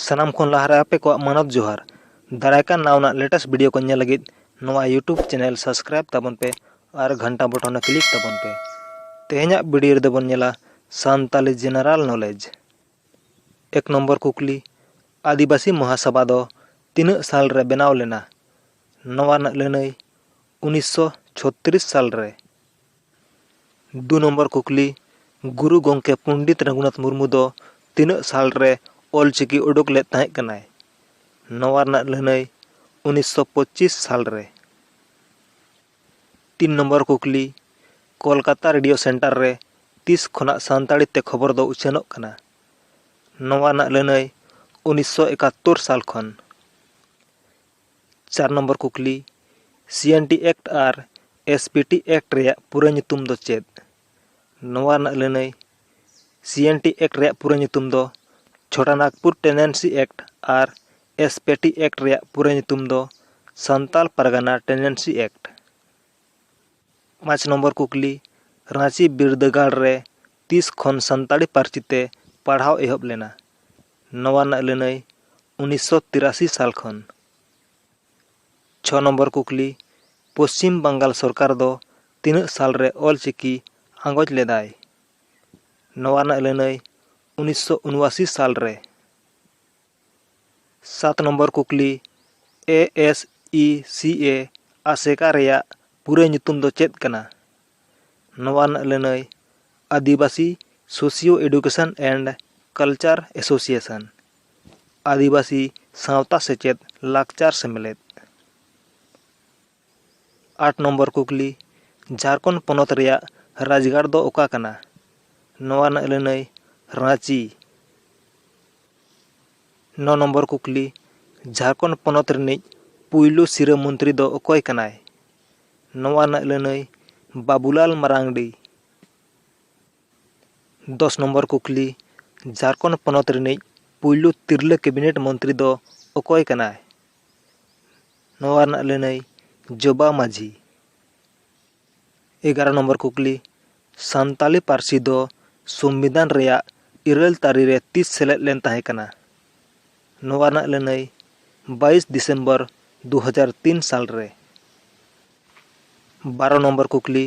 ᱥᱟᱱᱟᱢ ᱠᱷᱚᱱ ᱞᱟᱦᱟᱨᱮ ᱟᱯᱮ ᱠᱚᱣᱟᱜ ᱢᱟᱱᱚᱛ ᱡᱚᱦᱟᱨ ᱫᱟᱨᱟᱭ ᱠᱟᱱ ᱱᱟᱣᱟ ᱨᱮᱱᱟᱜ ᱞᱮᱴᱮᱥᱴ ᱵᱷᱤᱰᱤᱭᱳ ᱠᱚ ᱧᱮᱞ ᱞᱟᱹᱜᱤᱫ ᱱᱚᱣᱟ ᱭᱩᱴᱩᱵᱽ ᱪᱮᱱᱮᱞ ᱥᱟᱵᱥᱠᱨᱟᱭᱤᱵᱽ ᱛᱟᱵᱚᱱ ᱯᱮ ᱟᱨ ᱜᱷᱟᱱᱴᱟ ᱵᱚᱴᱚᱱ ᱨᱮ ᱠᱞᱤᱠ ᱛᱟᱵᱚᱱ ᱯᱮ ᱛᱮᱦᱮᱧᱟᱜ ᱵᱷᱤᱰᱤᱭᱳ ᱨᱮᱫᱚ ᱵᱚᱱ ᱧᱮᱞᱟ ᱥᱟᱱᱛᱟᱞᱤ ᱡᱮᱱᱟᱨᱟᱞ ᱱᱚᱞᱮᱡᱽ ᱮᱠ ᱱᱚᱢᱵᱚᱨ ᱠᱩᱠᱞᱤ ᱟᱹᱫᱤᱵᱟᱹᱥᱤ ᱢᱚᱦᱟᱥᱚᱵᱷᱟ ᱫᱚ ᱛᱤᱱᱟᱹᱜ ᱥᱟᱞ ᱨᱮ ᱵᱮᱱᱟᱣ ᱞᱮᱱᱟ ᱱᱚᱣᱟ ᱨᱮᱱᱟᱜ ᱞᱟᱹᱱᱟᱹᱭ ᱩᱱᱤᱥᱥᱚ ᱪᱷᱚᱛᱨᱤᱥ ᱥᱟᱞ ᱨᱮ ᱫᱩ ᱱᱚᱢᱵᱚᱨ ᱠᱩᱠᱞᱤ ᱜᱩᱨᱩ ᱜᱚᱢᱠᱮ ᱯᱚᱱᱰᱤᱛ ᱨᱚᱜᱷᱩᱱᱟᱛᱷ ᱢᱩᱨᱢᱩ ᱫᱚ ᱛᱤᱱᱟᱹᱜ ᱥᱟᱞ ᱨᱮ ᱚᱞ ᱪᱤᱠᱤ ᱩᱰᱩᱠ ᱞᱮᱫ ᱛᱟᱦᱮᱸᱫ ᱠᱟᱱᱟᱭ ᱱᱚᱣᱟ ᱨᱮᱱᱟᱜ ᱞᱟᱹᱱᱟᱹᱭ ᱩᱱᱤᱥᱥᱚ ᱯᱚᱸᱪᱤᱥ ᱥᱟᱞ ᱨᱮ ᱛᱤᱱ ᱱᱚᱢᱵᱚᱨ ᱠᱩᱠᱞᱤ ᱠᱳᱞᱠᱟᱛᱟ ᱨᱮᱰᱤᱭᱳ ᱥᱮᱱᱴᱟᱨ ᱨᱮ ᱛᱤᱥ ᱠᱷᱚᱱᱟᱜ ᱥᱟᱱᱛᱟᱲᱤ ᱛᱮ ᱠᱷᱚᱵᱚᱨ ᱫᱚ ᱩᱪᱷᱟᱹᱱᱚᱜ ᱠᱟᱱᱟ ᱱᱚᱣᱟ ᱨᱮᱱᱟᱜ ᱞᱟᱹᱱᱟᱹᱭ ᱩᱱᱤᱥᱥᱚ ᱮᱠᱟᱛᱛᱳᱨ ᱥᱟᱞ ᱠᱷᱚᱱ ᱪᱟᱨ ᱱᱚᱢᱵᱚᱨ ᱠᱩᱠᱞᱤ, CNT Act ᱟᱨ SPT Act ᱨᱮᱭᱟᱜ ᱯᱩᱨᱟᱹ ᱧᱩᱛᱩᱢ ᱫᱚ ᱪᱮᱫ? ᱱᱚᱣᱟ ᱨᱮᱱᱟᱜ ᱞᱟᱹᱱᱟᱹᱭ, CNT Act ᱨᱮᱭᱟᱜ ᱯᱩᱨᱟᱹ ᱧᱩᱛᱩᱢ ᱫᱚ ᱪᱷᱚᱴᱟ ᱱᱟᱜᱽᱯᱩᱨ ᱴᱮᱱᱮᱱᱥᱤ ᱮᱠᱴ ᱟᱨ SPT Act ᱨᱮᱭᱟᱜ ᱯᱩᱨᱟᱹ ᱧᱩᱛᱩᱢ ᱫᱚ ᱥᱟᱱᱛᱟᱞ ᱯᱟᱨᱜᱟᱱᱟ ᱴᱮᱱᱮᱱᱥᱤ ᱮᱠᱴ᱾ ᱯᱟᱸᱪ ᱱᱚᱢᱵᱚᱨ ᱠᱩᱠᱞᱤ ᱨᱟᱺᱪᱤ ᱵᱤᱨᱫᱟᱹᱜᱟᱲ ᱨᱮ ᱛᱤᱥ ᱠᱷᱚᱱ ᱥᱟᱱᱛᱟᱲᱤ ᱯᱟᱹᱨᱥᱤ ᱛᱮ ᱯᱟᱲᱦᱟᱣ ᱮᱦᱚᱵ ᱞᱮᱱᱟ ᱱᱚᱣᱟ ᱨᱮᱱᱟᱜ ᱞᱟᱹᱱᱟᱹᱭ ᱩᱱᱤᱥᱥᱚ ᱛᱤᱨᱟᱥᱤ ᱥᱟᱞ ᱠᱷᱚᱱ ᱪᱷᱚ ᱱᱚᱢᱵᱚᱨ ᱠᱩᱠᱞᱤ ᱯᱚᱥᱪᱤᱢ ᱵᱟᱝᱜᱟᱞ ᱥᱚᱨᱠᱟᱨ ᱫᱚ ᱛᱤᱱᱟᱹᱜ ᱥᱟᱞ ᱨᱮ ᱚᱞ ᱪᱤᱠᱤ ᱟᱸᱜᱚᱪ ᱞᱮᱫᱟᱭ ᱱᱚᱣᱟ ᱨᱮᱱᱟᱜ ᱞᱟᱹᱱᱟᱹᱭ ᱩᱱᱤᱥᱥᱚ ᱩᱱᱚᱟᱥᱤ ᱥᱟᱞ ᱨᱮ ᱥᱟᱛ ᱱᱚᱢᱵᱚᱨ ᱠᱩᱠᱞᱤ, ᱮ ᱮᱥ ᱤ ᱥᱤ ᱮ ᱟᱥᱮᱠᱟ ᱨᱮᱭᱟᱜ ᱯᱩᱨᱟᱹ ᱧᱩᱛᱩᱢ ᱫᱚ ᱪᱮᱫ ᱠᱟᱱᱟ? ᱱᱚᱣᱟ ᱨᱮᱱᱟᱜ ᱞᱟᱹᱱᱟᱹᱭ ᱟᱹᱫᱤᱵᱟᱹᱥᱤ socio education and culture association, ᱟᱹᱫᱤᱵᱟᱹᱥᱤ ᱥᱟᱶᱛᱟ ᱥᱮᱪᱮᱫ ᱞᱟᱠᱪᱟᱨ ᱥᱮᱢᱞᱮᱫ᱾ ᱟᱴ ᱱᱚᱢᱵᱚᱨ ᱠᱩᱠᱞᱤ, ᱡᱷᱟᱨᱠᱷᱚᱸᱰ ᱯᱚᱱᱚᱛ ᱨᱮᱭᱟᱜ ᱨᱟᱡᱽᱜᱟᱲ ᱫᱚ ᱚᱠᱟ ᱠᱟᱱᱟ? ᱱᱚᱣᱟ ᱨᱮᱱᱟᱜ ᱞᱟᱹᱱᱟᱹᱭ, ᱨᱟᱺᱪᱤ᱾ ᱱᱚ ᱱᱚᱢᱵᱚᱨ ᱠᱩᱠᱞᱤ, ᱡᱷᱟᱨᱠᱷᱚᱸᱰ ᱯᱚᱱᱚᱛ ᱨᱤᱱᱤᱡ ᱯᱩᱭᱞᱩ ᱥᱤᱨᱟᱹ ᱢᱚᱱᱛᱨᱤ ᱫᱚ ᱚᱠᱚᱭ ᱠᱟᱱᱟᱭ? ᱱᱚᱣᱟ ᱨᱮᱱᱟᱜ ᱞᱟᱹᱱᱟᱹᱭ, ᱵᱟᱵᱩᱞᱟᱞ ᱢᱟᱨᱟᱝᱰᱤ᱾ ᱫᱚᱥ ᱱᱚᱢᱵᱚᱨ ᱠᱩᱠᱞᱤ, ᱡᱷᱟᱨᱠᱷᱚᱸᱰ ᱯᱚᱱᱚᱛ ᱨᱤᱱᱤᱡ ᱯᱩᱭᱞᱩ ᱛᱤᱨᱞᱟᱹ ᱠᱮᱵᱤᱱᱮᱴ ᱢᱚᱱᱛᱨᱤ ᱫᱚ ᱚᱠᱚᱭ ᱠᱟᱱᱟᱭ? ᱱᱚᱣᱟ ᱨᱮᱱᱟᱜ ᱞᱟᱹᱱᱟᱹᱭ ᱡᱚᱵᱟ ᱢᱟᱹᱡᱷᱤ ᱮᱜᱟᱨᱚ ᱱᱚᱢᱵᱚᱨ ᱠᱩᱠᱞᱤ ᱥᱟᱱᱛᱟᱲᱤ ᱯᱟᱹᱨᱥᱤ ᱫᱚ ᱥᱚᱝᱵᱤᱫᱷᱟᱱ ᱨᱮᱭᱟᱜ ᱤᱨᱟᱹᱞ ᱛᱟᱹᱨᱤ ᱨᱮ ᱛᱤᱥ ᱥᱮᱞᱮᱫ ᱞᱮᱱ ᱛᱟᱦᱮᱸ ᱠᱟᱱᱟ ᱱᱚᱣᱟ ᱨᱮᱱᱟᱜ ᱞᱟᱹᱱᱟᱹᱭ ᱵᱟᱭᱤᱥ ᱰᱤᱥᱮᱢᱵᱚᱨ ᱫᱩ ᱦᱟᱡᱟᱨ ᱛᱤᱱ ᱥᱟᱞ ᱨᱮ ᱵᱟᱨᱚ ᱱᱚᱢᱵᱚᱨ ᱠᱩᱠᱞᱤ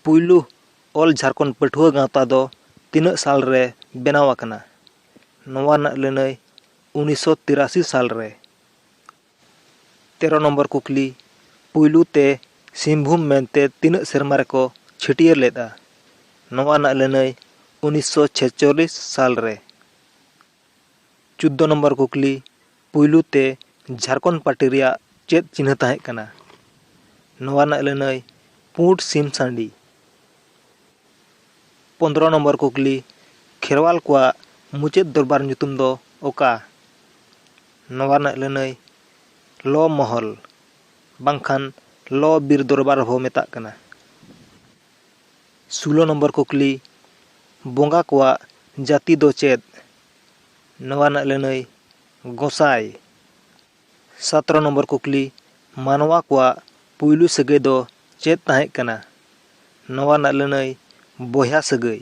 ᱯᱩᱭᱞᱩ ᱚᱞ ᱡᱷᱟᱨᱠᱷᱚᱸᱰ ᱯᱟᱹᱴᱷᱩᱣᱟᱹ ᱜᱟᱶᱛᱟ ᱫᱚ ᱛᱤᱱᱟᱹᱜ ᱥᱟᱞ ᱨᱮ ᱵᱮᱱᱟᱣ ᱟᱠᱟᱱᱟ ᱱᱚᱣᱟ ᱨᱮᱱᱟᱜ ᱞᱟᱹᱱᱟᱹᱭ ᱩᱱᱤᱥᱥᱚ ᱛᱤᱨᱟᱥᱤ ᱥᱟᱞ ᱨᱮ ᱛᱮᱨᱚ ᱱᱚᱢᱵᱚᱨ ᱠᱩᱠᱞᱤ, ᱯᱩᱭᱞᱩ ᱛᱮ ᱥᱤᱝᱵᱷᱩᱢ ᱢᱮᱱᱛᱮ ᱛᱤᱱᱟᱹᱜ ᱥᱮᱨᱢᱟ ᱨᱮᱠᱚ ᱪᱷᱟᱹᱴᱭᱟᱹᱨ ᱞᱮᱫᱼᱟ? ᱱᱚᱣᱟ ᱨᱮᱱᱟᱜ ᱞᱟᱹᱱᱟᱹᱭ ᱩᱱᱤᱥ ᱥᱚ ᱪᱷᱮᱪᱪᱚᱞᱞᱤᱥ ᱥᱟᱞ ᱨᱮ᱾ ᱪᱩᱫᱫᱚ ᱱᱚᱢᱵᱚᱨ ᱠᱩᱠᱞᱤ, ᱯᱩᱭᱞᱩ ᱛᱮ ᱡᱷᱟᱨᱠᱷᱚᱸᱰ ᱯᱟᱨᱴᱤ ᱨᱮᱭᱟᱜ ᱪᱮᱫ ᱪᱤᱱᱦᱟᱹ ᱛᱟᱦᱮᱸ ᱠᱟᱱᱟ? ᱱᱚᱣᱟ ᱨᱮᱱᱟᱜ ᱞᱟᱹᱱᱟᱹᱭ ᱯᱩᱸᱰ ᱥᱤᱢ ᱥᱟᱺᱰᱤ᱾ ᱯᱚᱸᱫᱽᱨᱚ ᱱᱚᱢᱵᱚᱨ ᱠᱩᱠᱞᱤ, ᱠᱷᱮᱨᱣᱟᱞ ᱠᱚᱣᱟᱜ ᱢᱩᱪᱟᱹᱫ ᱫᱚᱨᱵᱟᱨ ᱧᱩᱛᱩᱢ ᱫᱚ ᱚᱠᱟ? ᱱᱚᱣᱟ ᱨᱮᱱᱟᱜ ᱞᱟᱹᱱᱟᱹᱭ ᱞᱚ ᱢᱚᱦᱚᱞ ᱵᱟᱝᱠᱷᱟᱱ ᱞᱚ ᱵᱤᱨ ᱫᱚᱨᱵᱟᱨ ᱦᱚᱸ ᱢᱮᱛᱟᱜ ᱠᱟᱱᱟ᱾ ᱥᱩᱞᱚ ᱱᱚᱢᱵᱚᱨ ᱠᱩᱠᱞᱤ, ᱵᱚᱸᱜᱟ ᱠᱚᱣᱟᱜ ᱡᱟᱹᱛᱤ ᱫᱚ ᱪᱮᱫ? ᱱᱚᱣᱟ ᱨᱮᱱᱟᱜ ᱞᱟᱹᱱᱟᱹᱭ ᱜᱚᱸᱥᱟᱭ᱾ ᱥᱟᱛᱨᱚ ᱱᱚᱢᱵᱚᱨ ᱠᱩᱠᱞᱤ, ᱢᱟᱱᱣᱟ ᱠᱚᱣᱟᱜ ᱯᱩᱭᱞᱩ ᱥᱟᱹᱜᱟᱹᱭ ᱫᱚ ᱪᱮᱫ ᱛᱟᱦᱮᱸᱜ ᱠᱟᱱᱟ? ᱱᱚᱣᱟ ᱨᱮᱱᱟᱜ ᱞᱟᱹᱱᱟᱹᱭ ᱵᱚᱭᱦᱟ ᱥᱟᱹᱜᱟᱹᱭ᱾